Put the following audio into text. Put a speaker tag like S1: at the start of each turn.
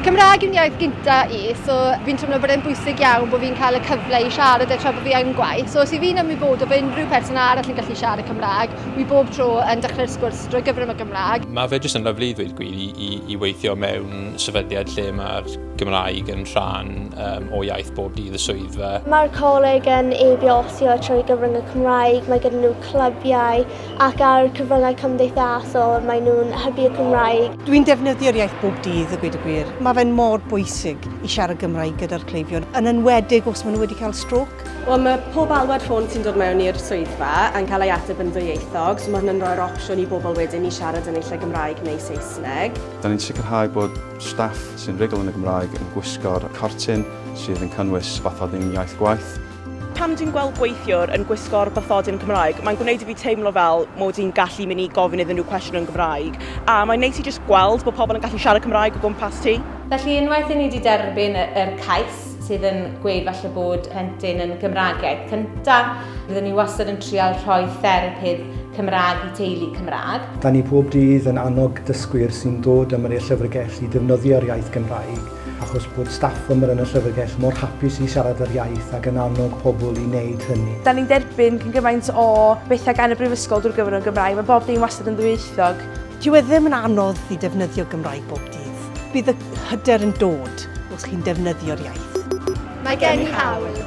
S1: Cymraeg yw'n iaith gynta i, so fi'n teimlo bod e'n bwysig iawn bod fi'n cael y cyfle i siarad e tra bod fi yn gwaith. So os i fi'n ymwybod o fe unrhyw person arall yn gallu siarad y Cymraeg, wi bob tro yn dechrau'r sgwrs drwy gyfrwng y Gymraeg. Mae fe jyst yn lyflu i ddweud gwir i, i, i weithio mewn sefydliad lle mae'r Gymraeg yn rhan um, o iaith bob dydd y swyddfa. Mae'r coleg yn ebiosio trwy gyfrwng y Cymraeg, mae gyda nhw clybiau, Ac ar cyfryngau cymdeithasol, maen nhw'n hybu'r Gymraeg. Dwi'n defnyddio'r iaith bob dydd, a gweud y gwir. Mae fe'n mor bwysig i siarad Gymraeg gyda'r cleifion, yn enwedig os maen nhw wedi cael strôc. Wel, mae pob alwad ffôn sy'n dod mewn i'r swyddfa yn cael ei ateb yn ddwyieithog, so mae hwn yn rhoi'r opsiwn i bobl wedyn i siarad yn eu lle Gymraeg neu Saesneg. Dan ni'n sicrhau bod staff sy'n rugl yn y Gymraeg yn gwisgo'r cortyn sydd yn cynnwys bathodyn iaith gwaith. Pan dwi'n gweld gweithiwr yn gwisgo'r bathodyn Cymraeg, mae'n gwneud i fi teimlo fel mod i'n gallu mynd i gofyn iddyn nhw cwestiwn yn Gymraeg, a mae'n neis i jyst gweld bod pobl yn gallu siarad Cymraeg o gwmpas ti. Felly unwaith i ni 'di derbyn yr cais sydd yn gweud falle bod plentyn yn Gymraeg iaith cynta, fyddwn ni wastad yn trial rhoi therapydd Cymraeg i teulu Cymraeg. Da ni pob dydd yn annog dysgwyr sy'n dod am yr i'r llyfrgell i ddefnyddio'r iaith Gymraeg. achos bod staff ymyr yn y llyfrgell mor hapus i siarad yr iaith ac yn annog pobl i wneud hynny. Da ni'n derbyn cyn gymaint o bethau gan y Brifysgol drwy gyfrwng y Gymraeg, mae bob dim wastad yn ddwyieithog. Dyw e ddim yn anodd i ddefnyddio Gymraeg bob dydd. Bydd y hyder yn dod os chi'n defnyddio'r iaith. Mae gen i hawl.